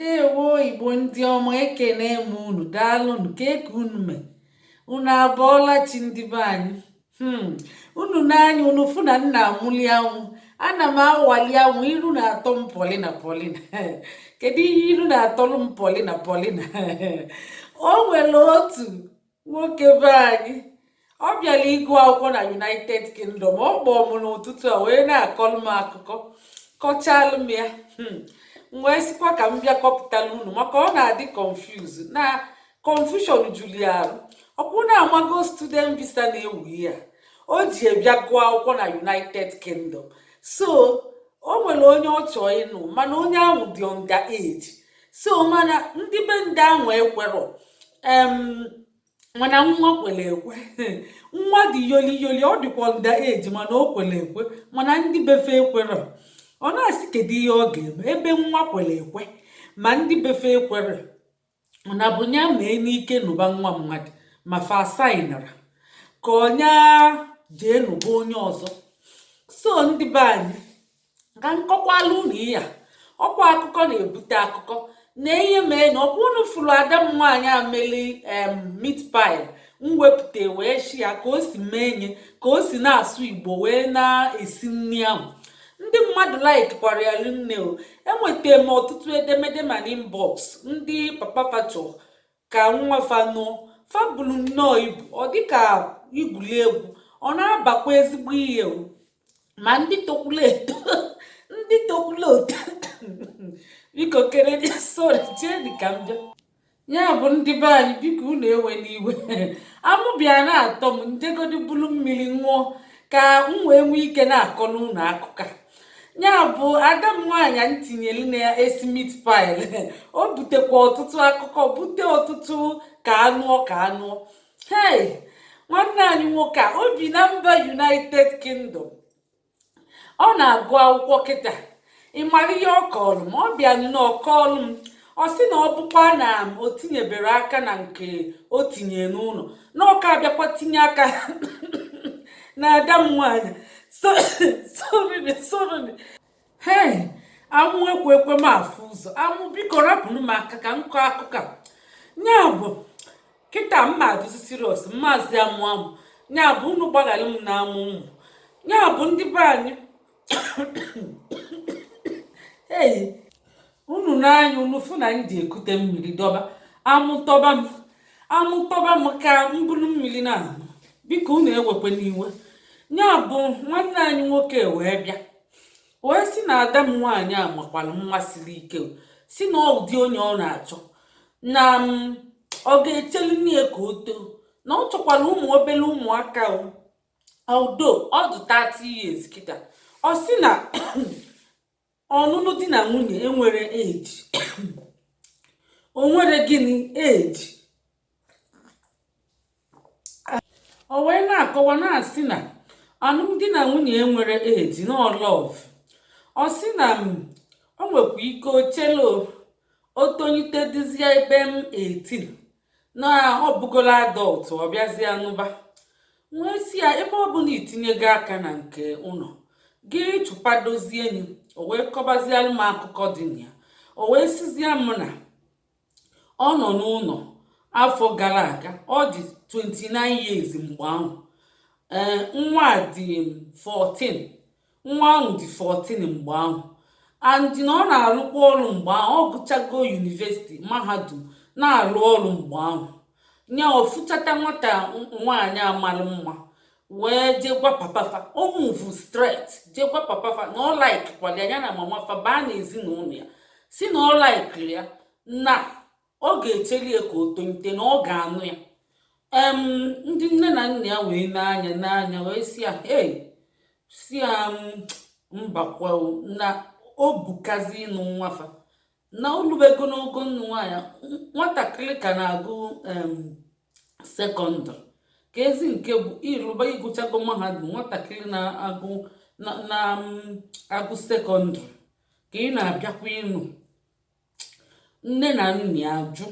ndewo igbo ndị ọma ekene m unu daalụnụ kee ka unu me unu abọọla chi ndị be anyị hmm. unu nee anya unu fụ na m na-amụli amụ ana m awali anwụ iru na-atọ m polina polina kedu ihe iru na-atọlụ m polina polina o nwere otu nwoke be anyị ọ bịara ịgụ akwụkwọ na united kingdom ọ kpọọ m n'ụtụtụ a wee na-akọlụ m akụkọ kọchalụ m ya hmm. m wee sịkwa ka m bịa kọpụtala unu maka ọ na-adị confuse na confusion juru ya arụ ọkwa unu amago student visa na-ewu ya o ji wee bịa gụọ akwụkwọ na united kingdom so o nwere onye ọ chọọ ịnụ mana onye ahụ dị under age so mana ndị be ndị ahụ ekwerọ mana nwa kwere ekwe nwa dị yoli yoli ọ dịkwa under age mana o kwere ekwe mana ndị be fa ekwerọ ọ na-asị kedu ihe ọ ga-eme ebe nwa kwere ekwe ma ndị be fa ekwerọ na bụ ya mee n'ike nụba nwa mmadụ ma fa asainịrọ ka ọ nya jee nụba onye ọzọ so ndị be anyị ka m kọkwalụ unu ihe a ọkwa akụkọ na-ebute akụkọ na ihe mee na ọkwa unu fụrụ ada m nwaanyị a meli em meat pie m wepụta wee share ka o si mee nye ka o si na-asụ igbo wee na-esi nri ahụ ndị mmadụ likekwara ya rinne o enwetara m ọtụtụ edemede ma na inbox ndị papa fa chọ ka nwa fa nụọ fa buru nnọọ ibu ọ dịka igwuli egwu ọ na-abakwa ezigbo ihe o ma ndị tokwuru eto ndị tokwuru eto biko chere sorry chee dị ka m bịa ya bụ ndị be anyị biko unu ewena iwe amụ bịa na-atọ m m jegodi bulu mmiri ṅụọ ka m wee nwee ike na-akọlụ unu akụkọ ya bụ ada m nwaanyị a m tinyere na-esi meat pie o butekwa ọtụtụ akụkọ bute ọtụtụ ka a nụọ ka a nụọ hei nwanne anyị nwoke a o bi na mba united kingdom ọ na-agụ akwụkwọ kịta ị mara ihe ọ kọọrọ m ọ bịa nnọọ kọọrọ m ọ sị na ọ bụkwa na o tinyeberọ aka na nke o tinye n'ụlọ na ọ ka abịakwa tinye aka na ada m nwaanyị hei amụ ekwe ekwe m afụ ụzọ amụ biko rapụnụ m aka ka m kọọ akụkọ ya bụ kịta mma adụzi serious m mazi amụ amụ ya bụ unu gbaghara m na amụ m mụ ya bụ ndị be anyị unu nee anya unu fụ na m ji ekute mmiri dọba amụ tọba m amụ tọba m ka m buru mmiri na-aṅụ biko unu ewekwe n'iwe ya bụ nwanne anyị nwoke wee bịa wee si na ada m nwaanyị a makwara mma siri ike si na ụdị onye ọ na-achọ na ọ ga-echelinụ ya ka o too na ọ chọkwara ụmụ obere ụmụaka although ọ dị 30 years kịta ọ sị na ọnụnụ di na nwunye enwere age o nwere gịnị age o wee na-akọwa na-asị na ọnụnụ di na nwunye enwere age na ọ love ọ sị na o nwekwa ike o chelu o tonyite dịzie ebe m 18 na ọ bụgolo adult ọ bịazie nụba wee si ya ebe ọ bụ na i tinyego aka na nke ụlọ gị chụpadozie enyi o wee kọbazialụ m akụkọ dị na ya o wee sizie m na ọ nọ n'ụlọ afọ gara aga ọ dị 29 years mgbe ahụ ee nwa dị 14 Nwa ahụ dị 14 mgbe ahụ and na ọ na-arụkwa ọrụ mgbe ahụ, ọ gụchago university, mahadum, na-arụ ọrụ mgbe ahụ. Nya ọ fụchata nwata nwaanyị a mara mma wee jee gwa papa fa, o move straight jee gwa papa fa na ọ likekwara ya ya na mama fa baa n'ezinụlọ ya si na ọ likeri ya na ọ ga-echeli ya ka o tonite na ọ ga-anụ ya em ndị nne na nna ya wee nee anya nee anya wee si ya hey si ya mbakwa na o bukazi ịnụ nwa fa na o lubego n'ogo ịnụ nwaanyị nwatakịrị ka na-agụ secondary ka ezi nke bụ ị lụba ị gụchago mahadum nwatakịrị na-agụ na-agụ secondary ka ị na-abịakwa ịnụ nne na nna ya jụ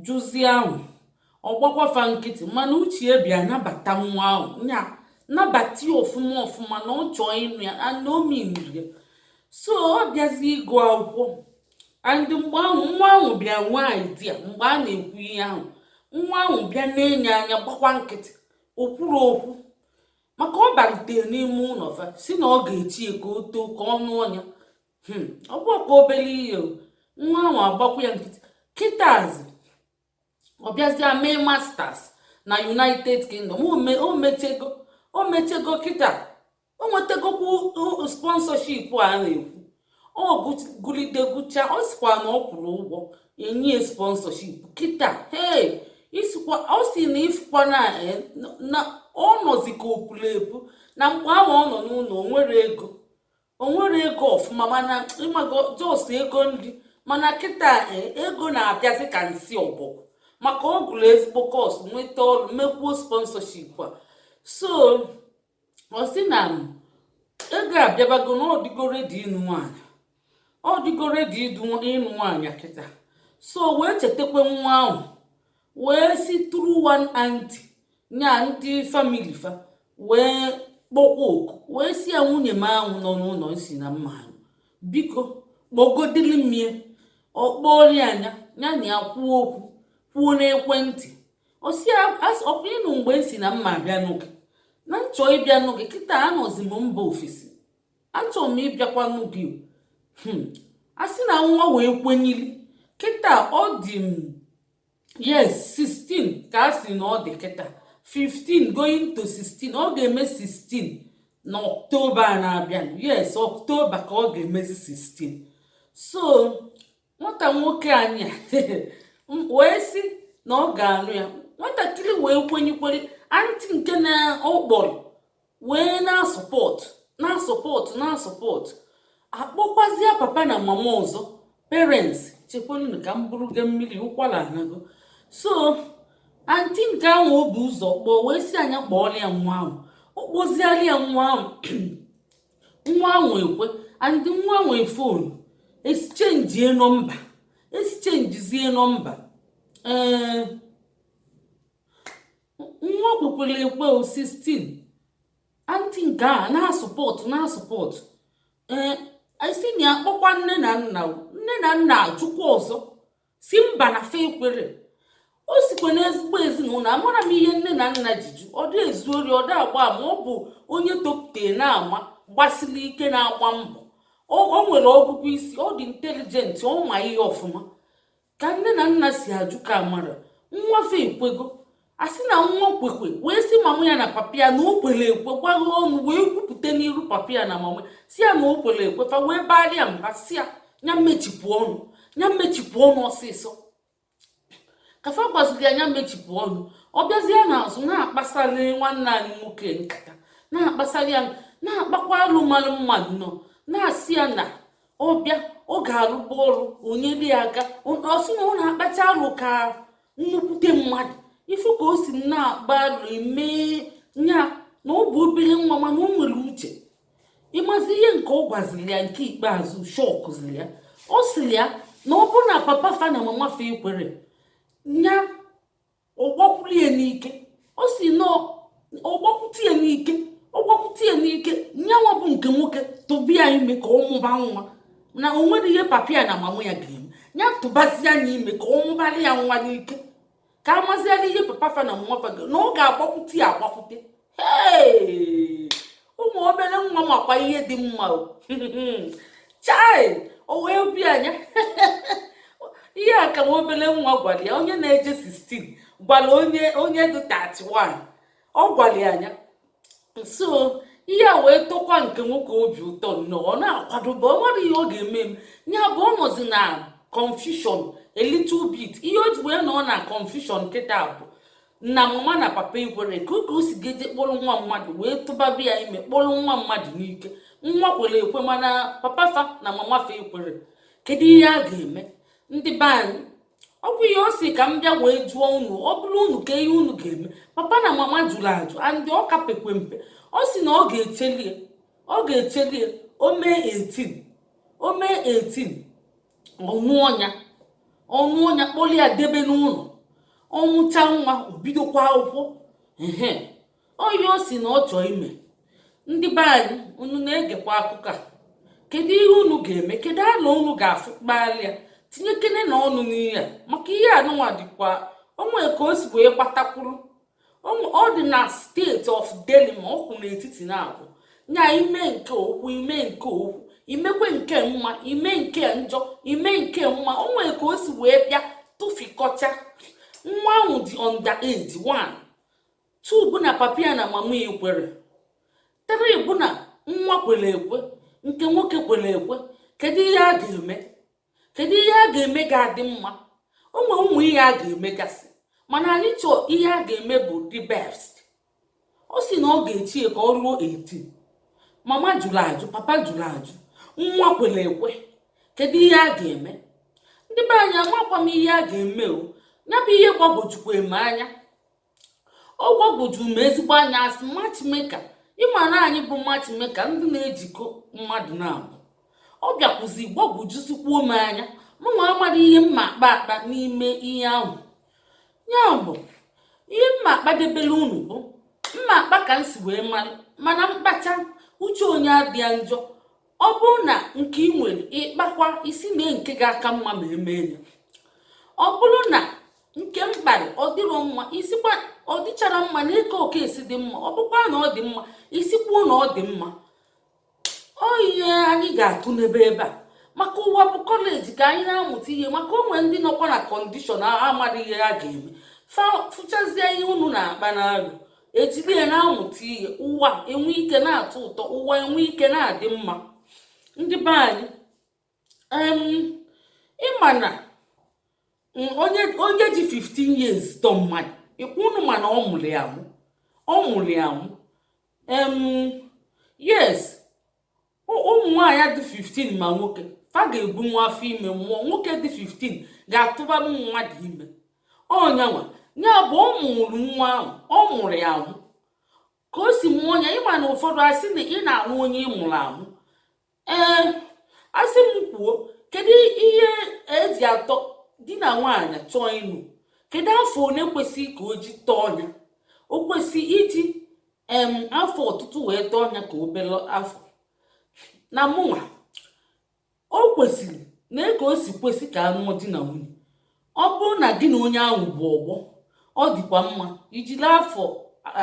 jụzie ahụ ọ gbakwa fa nkịtị mana uche ya bịa nabata nwa ahụ ya nabata ya ọfụma ọfụma na ọ chọọ ịnụ ya na o meaniri ya so ọ bịazi ịgụ akwụkwọ and mgbe ahụ nwa ahụ bịa nwee idea mgbe a na-ekwu ihe ahụ nwa ahụ bịa na-ene anya gbakwa nkịtị o kwuru okwu maka ọ balitere n'ime ụlọ fa si na ọ ga-eche ya ka o too ka ọ nụọ ya hmm, ọ bụ ọkwa obere ihe nwa ahụ agbakwu ya nkịtị kịtazi ọ bịazịa mee masters na united kingdom o mechego o mechego kịta o nwetagokwu sponsorship a na-ekwu ọ gụlide gụcha ọ sikwa na ọ kwụrụ ụgwọ e nye ya sponsorship kịta hei isikwa ọ si na ifukwa na eh, ọ nọzi ka opuru ebu na mgbe ahụ ọ nọ n'ụlọ o nwere ego o nwere ego ọfụma mana ịmago jos ego nri mana kịta e, ego na-abịazi ka nsị ọbọgwụ maka ọ gụrụ ezigbo kọs nweta ọrụ mekwuo sponsorship a so ọ sị na ego abịabago na ọ dịgo redi ịnụ nwaanyị ọ dịgo redi ịnụ nwaanyị kịta so wee chetakwa nwa ahụ wee si through one aunty nya ndị famili fa wee kpọkwa oku wee si ya nwunye m ahụ nọ n'ụlọ m si na m ma-anụ biko kpọgodili m ya ọ kpọri ya nya ya na ya kwuo okwu kwuo n'ekwentị ọkwa ị nụ mgbe m si na m ma-abịa nụ gị na m chọ ịbịa nụ gị kịta anọzi m mba ofesi achọrọ m ịbịakwa nụ gị hmm. a sị na nwa wee kwenyili kịta ọ dị m yes 16 ka a sị na ọ dị kịta 15 going to 16 ọ ga-eme 16 na ọktoba na-abịa yes ọktoba ka ọ ga-emezi 16 so nwata nwoke anyị wee sị na ọ ga-anụ ya nwatakịrị wee kwenyekwere antị nke na ọ kpọrọ wee na-asọpọtụ na-asọpọtụ na-asọpọtụ akpọkwazịa papa na mama ọzọ parents chekwanụ ka m buru ga mmiri ụkwara anago so anti nke ahụ o bu ụzọ kpọọ wee si ya nya kpọọlụ ya nwa ahụ ọ kpọziala ya nwa ahụ nwa ahụ ekwe and nwa nwe fon eschenjie nọmba eschenjizie nọmba ee eh, nwa kwekwere ekwe 16 anti nke a na-asụpọtụ na-asụpọtụ ee eh, isi na a kpọkwa nne na nna nne na nna ajụkwa ọzọ si mba na fa ekwerọ o sikwa n'ezigbo ezinụlọ amarọ m ihe nne na nna ji jụ ọ dị ezu ori ọ dị agba ama ọ bụ onye topute na-ama gbasiri ike na-agba mbọ o nwere ọgụgụ isi ọ dị intelijenti ọ ma ihe ọfụma ka nne na nna si ajụ ka amarọ nwa fa ekwego a sị na nwa kwekwe wee sị mama ya na papa ya na o kwere ekwe gwaghị ọnụ wee kwupụta n'iru papa ya na mama sị ya na o kwere ekwe fa wee baara ya mba sị ya ya mechipụ ọnụ ya mechipụ ọnụ ọsịsọ ka fa gwaziri ya ya mechipụ ọnụ ọ bịazie n'azụ na-akpasara nwanne anyị nwoke nkata na-akpasara ya na-akpakwa alụmalụ mmadụ nọ na-asị ya na ọ bịa ọ ga-arụba ọrụ nyere ya aka ọ sị na ọ na-akpacha alụ ka nnukwute mmadụ ị fụ ka o si na-agba arụ eme ya na ọ bụ obere nwa mana o nwere uche ị mazi ihe nke ọ gwaziri ya nke ikpeazụ shọkụziri ya ọ sịrị ya na ọ bụ na papa fa na mama fa ekwere ya ọ gbakwuru ya n'ike ọ sị na ọ gbakwute ya n'ike ọ gbakwute ya n'ike nyanwa bụ nke nwoke tụba ya ime ka ọ mụba nwa na o nwere ihe papa ya na mama ya ga-eme ya tụbazie nya ime ka ọ mụbara ya nwa n'ike ka a maziela ihe papa fa na mama fa na ọ ga-agbakwute ya agbakwute ee ụmụ obere nwa makwa ihe dị mma chai o wee bịa nya ihe a ka nwa obere nwa gwara ya onye na-eje 16 gwara onye dị 31 ọ gwara ya nya so ihe a wee tọkwa nke nwoke obi ụtọ nnọọ ọ na-akwadobe ọ marọ ihe ọ ga-eme nya bụ ọ nọzi na confusion a little bit ihe o ji wee nọ na confusion kịta bụ na mama na papa ekwere kedu ka o si ga-eje kpọrọ nwa mmadụ wee tụbaba ya ime kpọrọ nwa mmadụ n'ike nwa kwere ekwe mana papa fa na mama fa ekwere kedu ihe a ga-eme ndị be anyị ọ bụ ihe ọ sị ka m bịa wee jụọ unu ọ bụrụ unu kee ihe unu ga-eme papa na mama jụrụ ajụ and ọ ka pekwe mpe ọ sị na ọ ga-echeli ya ọ ga-echeli ya o mee 18 o mee 18 ọ nụọ nya ọ nụọ nya kpọrọ ya debe n'ụlọ ọ mụcha nwa o bidokwa akwụkwọ ehe ọ ya ọ sị na ọ chọọ ime ndị be anyị unu na-egekwa akụkọ a kedu ihe unu ga-eme kedu alo unu ga-atụkpara ya tinyekenenụ ọnụ n'ihe a maka ihe anụnwa dịkwa o nwe ka o si wee gbatakwuru ọ dị na state of dilemma ọ kwụ n'etiti naabọ nya ime nke okwu ime nke okwu imekwe nke mma ime nke njọ ime nke mma o nwere ka o si wee bịa tụfikọcha nwa ahụ dị under age one two bụ na papa ya na mama ya ekwere three bụ na nwa kwere ekwe nke nwoke kwere ekwe kedu ihe a ga-eme kedu ihe a ga-eme ga-adị mma o nwere ụmụ ihe a ga-emegasị mana anyị chọọ ihe a ga-eme bụ the best ọ sị na ọ ga-eche ya ka o ruo 18 mama jụrụ ajụ papa jụrụ ajụ nwa kwere ekwe kedu ihe a ga-eme ndị be anyị amakwa m ihe a ga-eme o ya bụ ihe gbagwojukwa m anya ọ gbagwojuru m ezigbo anya asị matchmaker ịma na anyị bụ matchmaker ndị na-ejikọ mmadụ na-abụ ọ bịakwuzi gbagwojuzikwuo m anya mụnwa amaghị ihe m ma-akpa akpa n'ime ihe ahụ ya bụ ihe m ma-akpadebere unu bụ m ma-akpa ka m si wee mara mana m kpachaa uche onye adịa njọ ọ bụrụ na nke ị nwere ịkpakwa isi mee nke ga-aka mma ma emee ya ọ bụrụ na nke m kpara ọ dịrọ mma ị sịkwa ọ dịchara mma nee ka ọ ka-esi dị mma ọ bụkwa na ọ dị mma ị sịkwuo na ọ dị mma ọ ihe anyị ga-atụ n'ebe ebe a maka ụwa bụ kọleji ka anyị na-amụta ihe maka o nwere ndị nọkwa na kọndishọn amaghị ihe ha ga-eme fụchazie ihe unu na-akpa na-alụ ejiri ya na-amụta ihe ụwa enwe ike na-atọ ụtọ ụwa enwe ike na-adị mma ndị be anyị ịma na onye ji 15 years tọọ mmadụ unu ma na ọ mụrụ ya amụ ọ mụrụ ya amụ yes ụmụ nwaanyị dị 15 ma nwoke fa ga-ebu nwa afọ ime mụọ nwoke dị 15 ga-atụba mmadụ ime ọ nyanwa ya bụ ọ mụrụ nwa ahụ ọ mụrụ ya amụ ka o si mụọ ya ịma na ụfọdụ asị na ị na-anụ onye ị mụrụ amụ ee asị m kwuo kedu ihe eji atọ di na nwaanyị chọọ ịnụ kedu afọ one kwesịrị ka o ji tọọ ya o kwesị iji em afọ ọtụtụ wee tọọ ya ka obere afọ na mụnwa o kwesịrị na ka o si kwesị ka anụọ di na nwunye ọ bụrụ na gị na onye ahụ bụ ọgbọ ọ dịkwa mma i jiri afọ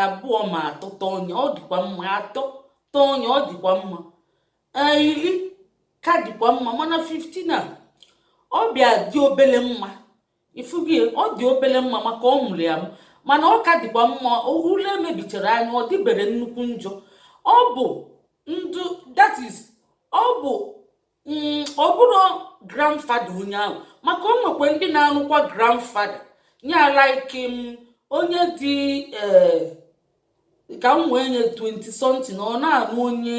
abụọ ma atọ tọọ ya ọ dịkwa mma atọ tọọ ya ọ dịkwa mma ee iri ka dịkwa mma mana 15 a ọ bịa dị obere mma ị fụgo ọ dị obere mma maka ọ mụrụ ya mana ọ ka dịkwa mma ule mebichara anya ọ dịbere nnukwu njọ ọ bụ ndụ that is ọ bụ mm, ọ bụrụ grandfather onye ahụ maka o nwekwa ndị na-anụkwa grandfather ya like mm, onye dị eh, ka m wee nye 20 something ọ na-anụ onye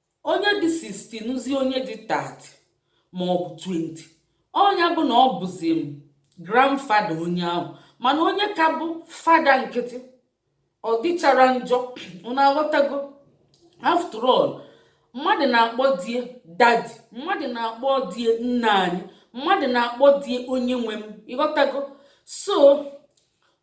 onye dị 60 nụzie onye dị 30 ma ọ bụ 20 ọ nya bụ na ọ bụzi m grandfather onye ahụ mana onye ka bụ father nkịtị ọ dịchara njọ unu aghọtago after all mmadụ na-akpọ di ya daddy mmadụ na-akpọ di ya nna anyị mmadụ na-akpọ di ya onye nwe m ịghọtago so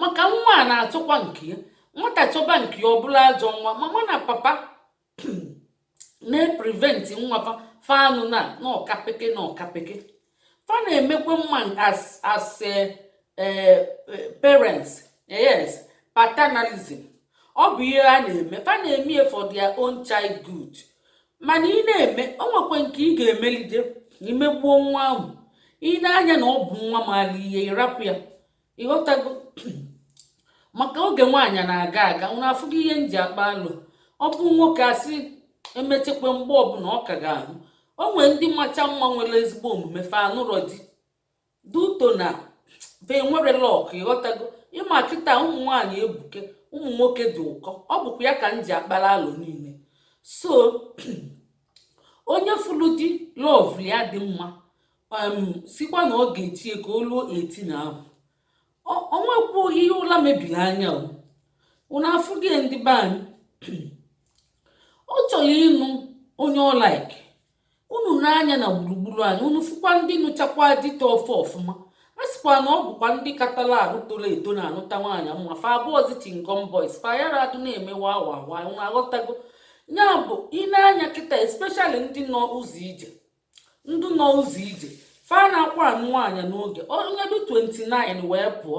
maka nwa a na-achọkwa nke ya nwata chọba nke ya ọ bụla ajọ nwa mama na papa na-epreventi nwa fa anụna na ọkapeke na ọkapeke fa na-emekwe mma as as eh, eh, eh, parents yes paternalism ọ bụ ihe ha na-eme fa na-eme ya for their own child good mana ị na-eme o nwekwe nke ị ga-emelide imegbuo nwa ahụ ị nee anya na ọ bụ nwa maalụ ihe ịrapụ ya ịghọtago maka oge nwaanyị na-aga aga unu afụgo ihe m ji akpa alụ ọ bụ nwoke asị emechekwa mgbe ọbụla ọ ka ga-ahụ o nwee ndị macha mma nwere ezigbo omume fa anụrọ di due to na fa enwerọ luck ịghọtago ịma kịta ụmụ nwaanyị ebuke ụmụ nwoke dị ụkọ ọ bụkwa ya ka m ji akpara alụ niile so onye fụlụ di love ya dị mma sịkwa na ọ ga-eche ka o luo 18 ahụ o nwekwu ihe ụla mebiri anya o unu afụghị ndị be anyị ọ chọrọ ịnụ onye ọ like unu nee anya na gburugburu anyị unu fụkwa ndị nụchakwa di tọọ fa ọfụma a sịkwa na ọ bụkwa ndị katala arụ toro eto na-anụta nwaanyị mma fa abụọzi chewing gum boys fa yara adụ na-eme wawawa unu aghọtago ya bụ ị nee anya kịta especially ndị nọ ụzọ ije ndị nọ ụzọ ije fa anakwa anụ nwaanyị n'oge onye dị 29 wee pụọ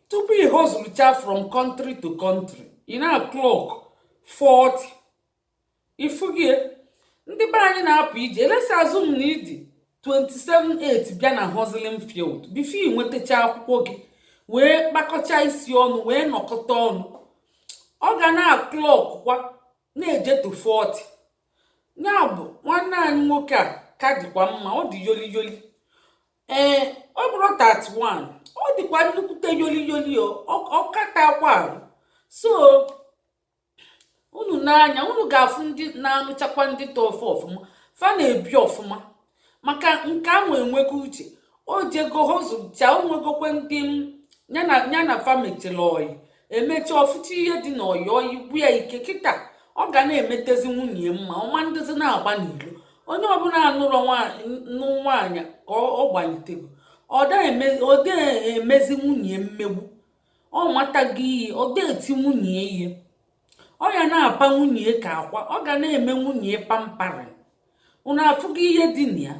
tupu ị hozụlụcha from country to country ị na-aklọk 40 ị fụghị ndị be anyị na-apụ ije let's assume na ị dị 27 8 bịa na hustling field before ị nwetacha akwụkwọ gị wee kpakọcha isi ọnụ wee nọkọta ọnụ ọ ga na-aklọk kwa na-eje to 40 ya bụ nwanne anyị nwoke a ka dịkwa mma ọ dị yoli yoli ee eh, ọ bụrụ 31 ọ dịkwa nnukwute yoli yoli ọ katakwa arụ so unu nee anya unu ga-afụ ndị na-anụchakwa ndị tọọ fa ọfụma fa na-ebi ọfụma maka nke ahụ enwego uche o jego hozụcha o nwegokwe ndị ya na fa mechara ọyị emecha ọ fụcha ihe dị na ọyị ọ gwụ ya ike kịta ọ ga na-emetezi nwunye mma ọ ma dịzi na-agba n'ilo onye ọbụla nụrụnụ nwaanyị ka ọ gbanitego ọ da emezi nwunye mmegbu ọ matago ihe ọ da eti nwunye ihe ọ ya na-apa nwunye ka akwa ọ ga na-eme nwunye pampering unu afụgo ihe dị na ya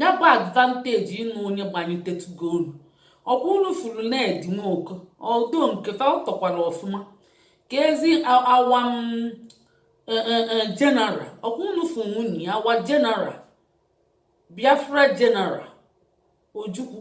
ya bụ advantage ịnụ onye gbanyitetugo unu ọkwa unu fụrụ ned nwoko odo nke fa ọ tọkwara ọfụma keezi our general ọkwa unu fụrụ nwunye ya our general biafra general ojukwu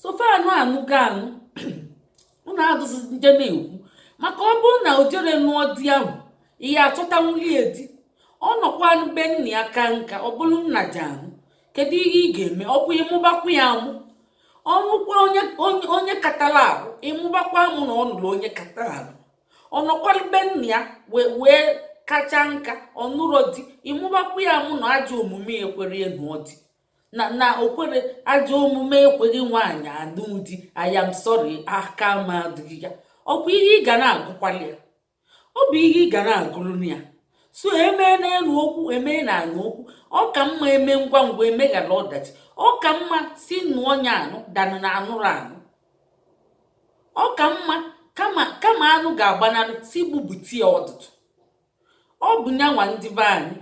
sofanụ anụgo anụ unu adụzi nje na-ekwu maka ọ bụrụ na o jere nụọ di ahụ ihe achọta nwulie di ọ nọkwa be nna ya kaa nka ọ bụrụ nna ji ahụ kedu ihe ị ga-eme ọ bụ ịmụbakwa ya amụ ọ nụkwa onye katara ahụ ịmụbakwa amụ na ọ nụrụ onye katara ahụ ọ nọkwa be nna ya wee kacha nka ọ nụrụ di ịmụbakwa ya amụ na ajọ omume ya ekwerọ ya nụọ di na na okwere ajọ omume ekweghị nwaanyị anụ di I am sorry aka m adịghị ya ọ bụ ihe ị ga na-agụkwali ya ọ bụ ihe ị ga na-agụrụ ya so emee n'elu okwu emee na anụ okwu ọ ka mma eme ngwa ngwa emeghara ọdachi ọ ka mma si nụọ onye anụ danụ na anụrụ anụ ọ ka mma kama anụ ga-agbanarị sị gbubute ya ọdụdụ ọ bụ nyanwa ndị be anyị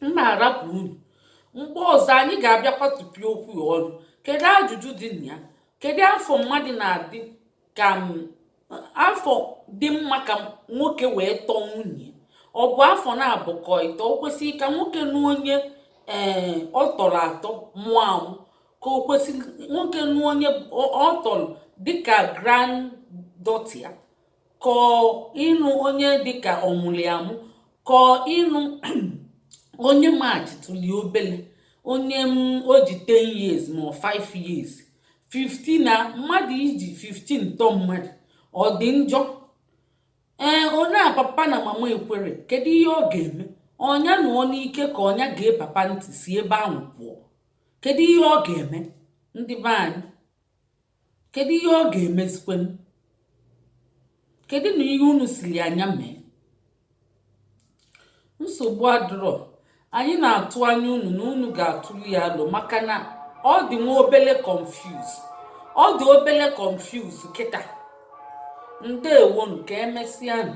m na-arapụ unu mgbe ọzọ anyị ga-abịakwa tụpịa okwu a ọnụ kedu ajụjụ dị na ya kedu afọ mmadụ na-adị ka afọ dị mma ka nwoke wee tọọ nwunye ọ bụ afọ naabọ ka ịtọ o kwesịrị ka nwoke nụọ onye ee eh, ọ tọrọ atọ mụọ amụ ka o kwesịrị nwoke nụọ onye ọ tọrọ dịka granddaughter ya kọọ ịnụ onye dịka ọ mụli amụ kọọ ịnụ onye machitụli obele onye m o ji 10 years ma 5 years 15 na mmadụ iji 15 tọọ mmadụ ọ dị njọ ee onye a papa na mama ekwerọ kedu ihe ọ ga-eme ọ nya nụọ n'ike ka ọ nya gee papa ntị si ebe ahụ pụọ kedu ihe ọ ga-eme ndị be anyị kedu ihe ọ ga-emezikwenụ kedu na ihe unu sịrị nya mee nsogbu adịrọ anyị na-atụ anya unu na unu ga-atụli ya alo maka na ọ dị nwa obele confuse ọ dị obele confuse kịta ndewonụ ka emesịanụ